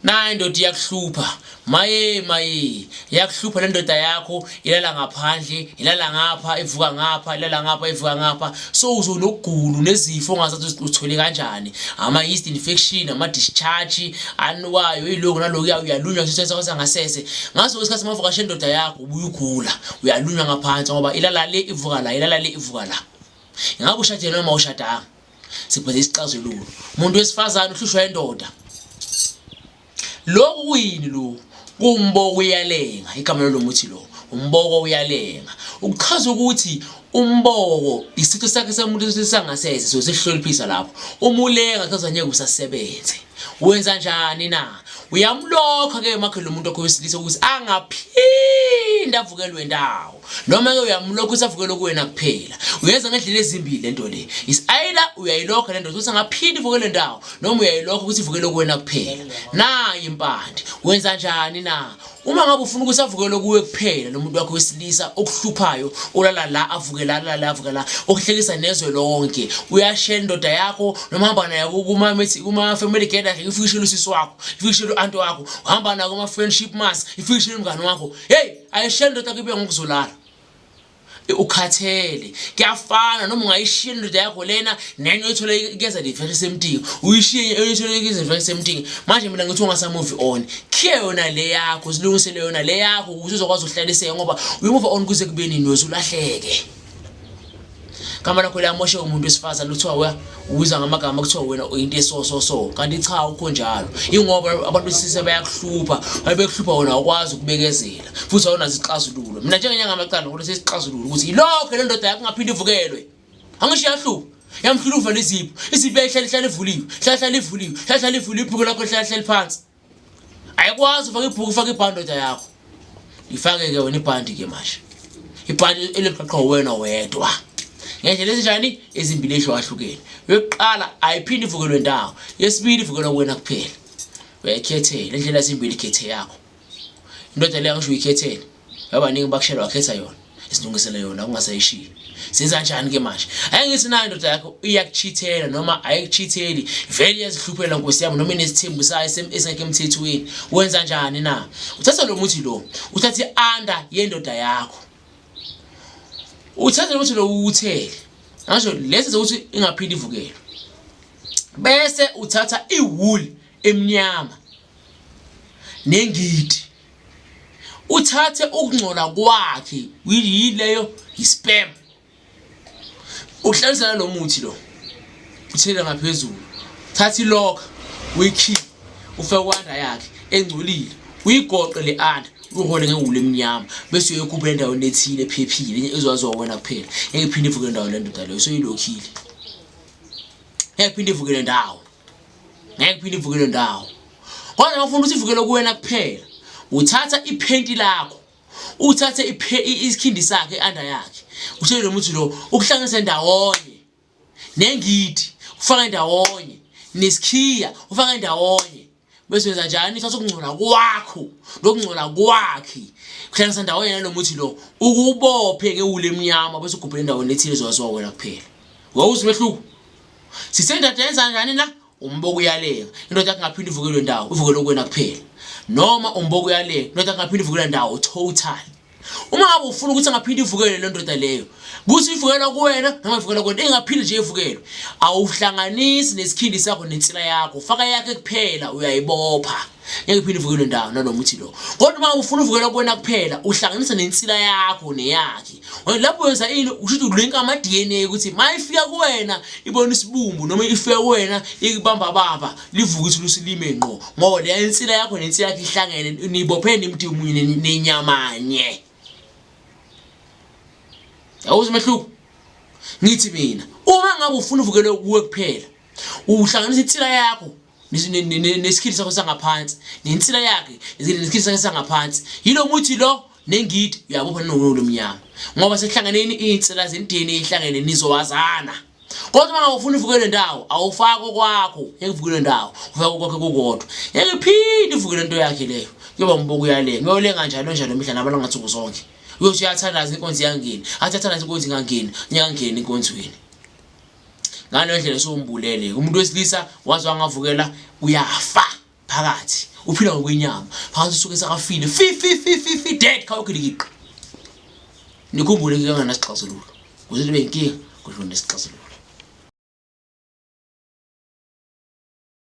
naye ndoda iyakuhlupha maye maye iyakuhlupha le ndoda yakho ilala ngaphandle ilala ngapha ivuka ngapha ilala ngapha ivuka ngapha so uzonokugulu nezifo ongazathi uthole kanjani ama-yeast infection ama-discharge anukayo iloku naloku uyalunywa sisesangasese ngaso isikhathi mavukashe ndoda yakho ubuye ugula uyalunywa ngaphansi ngoba ilala le ivuka la ilala le ivuka la ingabe ushadile noma ushadanga sibheke isixazululo umuntu wesifazane uhlushwa indoda lokhu kuyini lo kumboko uyalenga igama lelo muthi lo umboko uyalenga ukuchaza ukuthi umboko isitho sakhe somuntu sangasese so sihloliphisa lapho uma ulenga kuchaza ngeke usasebenze wenza njani na uyamlokha ke makhe lo muntu wakho wesilisa ukuthi angaphinde avukelwe ndawo noma ke uyamlokha usavukela kuwena kuphela uyenza ngendlela ezimbili lento le is either uyayilokha lento ukuthi ngaphindi vukele ndawo noma uyayilokha ukuthi ivukele kuwena kuphela nayi impande wenza njani na uma ngabe ufuna ukuthi avukele kuwe kuphela lomuntu wakho wesilisa okuhluphayo ulala la avukela la la avukela okuhlekisa nezwe lonke uyashela indoda yakho noma hamba naye kuma kuma family gathering ifikishela usisi wakho ifikishela uanti wakho hamba naye kuma friendship mass ifikishela umngane wakho hey ayishele ndoda yakho ibuya ngokuzolala ukhathele kuyafana noma ungayishiya indoda yakho lena nenye oyithole kuyeza livela isemtingi uyishiye enye oyithole kuyeza livela isemtingi manje mina ngithi ungasamuvi on khiye yona le yakho zilungisele yona le yakho ukuze uzokwazi ukuhlaliseka ngoba uyomuva on kuze kube nini wezulahleke gama lakho liyamoshe umuntu wesifazane kuthiwa we ubiza ngamagama kuthiwa wena uyinto esososo kanti cha awukho njalo ingoba abantu besise bayakuhlupha babekuhlupha wona awukwazi ukubekezela futhi awunazo isixazululo mina njengenyanga amacana kodwa sesixazululo ukuthi yilokho le ndoda yakho ungaphinde ivukelwe angisho iyahlupha yamhlula uvale izipho izipho yayihlale ihlale ivuliwe hlahlale ivuliwe hlahlale ivuliwe iphiko lakho lihlale lihlale phansi ayikwazi ufake ibhuku ufake ibhandi ndoda yakho ifake-ke wena ibhandi-ke manje ibhandi eliqaqha wena wedwa ngendlela ezinjani ezimbili ehlukahlukeni yokuqala ayiphinde ivukelwe ndawo yesibili ivukelwa kuwena kuphela uyayikhethela indlela ezimbili ikhethe yakho indoda leyo angisho uyikhethele Abaningi bakushelwa khetha yona. Isilungisele yona ungasayishiyi. Siza kanjani ke manje? Hayi ngithi nayo ndoda yakho iyakuchithela noma ayikuchitheli. Vele iyazihluphela nkosi yami noma inesithembu sayo esingekho emthethweni. Wenza kanjani na? Uthatha lo muthi lo. Uthatha ianda yendoda yakho. Uthatha lo muthi lo uthele. Ngasho lesi ukuthi ingaphindi ivukele. Bese uthatha iwool emnyama nengidi uthathe ukungcola kwakhe yileyo yispam uhlanza nalo muthi lo uthele ngaphezulu thatha ilokha uyikhiphe ufake kwanda yakhe engcolile uyigoqe le anda uhole ngewulu emnyama bese uyokuphela endaweni ethile ephephile enye ezwaziwa wena kuphela ngeke phinde ivuke ndawo le ndoda leyo soyilokhile ngeke phinde ivuke le ndawo ngeke phinde ivukele ndawo kodwa ngifuna ukuthi ivukele kuwena kuphela uthatha iphenti lakho uthathe isikhindi sakhe under yakhe uthele lo muthi lo ukuhlanganise ndawonye nengidi ufaka ndawonye nesikhiya ufaka ndawonye bese wenza njani uthatha ukungcola kwakho nokungcola kwakhe kuhlanganisa ndawonye nalo muthi lo ukubophe ngewule emnyama bese ugubhele endaweni ethile zowaziwa wena kuphela wawuzi umehluko sisendoda yenza njani la umboko uyaleka indoda kungaphinde ivukelwe ndawo ivukele okwena kuphela noma umboko uyaleka indoda kungaphinde ivukelwe ndawo total uma ngabe ufuna ukuthi angaphinde ivukelwe le ndoda leyo kuthi ivukelwa kuwena noma ivukelwa kuwena ingaphinde nje ivukelwe awuhlanganisi nesikhindi sakho nensila yakho faka yakhe kuphela uyayibopha ngeke phinde uvukelwe ndawo nalo muthi lo kodwa uma ufuna uvukelwa kuwena kuphela uhlanganisa nensila yakho neyakhe lapho wenza ini usho ukuthi ulinka ama-dna ukuthi ma ifika kuwena ibona isibumbu noma ifika kuwena ikubamba baba livuke ithi lusilime ngqo ngoba leya insila yakho nensila yakhe ihlangene nibophene imdi munye nenyamanye yawuze umehluko ngithi mina uma ngabe ufuna uvukelwe kuwe kuphela uhlanganisa insila yakho nesikhili sakho sangaphansi nensila yakhe nesikhili sakhe sangaphansi yilo muthi lo nengidi uyabopha nowolo mnyama ngoba sekuhlangeneni iy'nsila zemdeni ehlangene nizowazana kodwa uma ngawufuna uvukele ndawo awufaki okwakho ekuvukelwe ndawo ufake okwakhe kukodwa yeke phinde uvukele into yakhe leyo kuyoba mbuko yale ngiyolenga njalo njalo mihla nabala ngathuku zonke uyothi uyathandaza inkonzi yangeni athi athandaza inkonzi ingangeni nyangeni enkonzweni ngaleyo ndlela sombulele umuntu wesilisa waze wangavukela uyafa phakathi uphila ngokwenyama phakathi usuke sakafile fi fi fi fi fi dead khawukhilikiqa nikhumbule ke ngana sixazululo kuze libe inkinga kudlule sixazululo